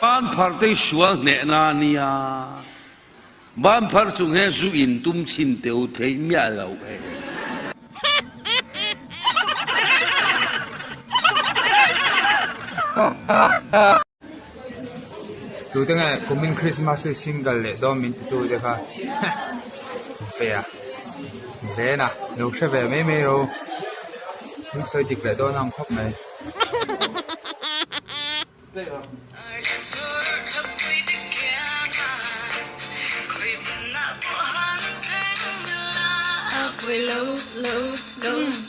Ban phar te i sual hneh na nia, ban phar chung he zu in tum chin teu theih miah lo e. Tute nge kumin Christmas hi single leh dawn min ti tu te kha pe a zen a lo hre ve mai mai lo min sawi dik leh dawn ang khawp mai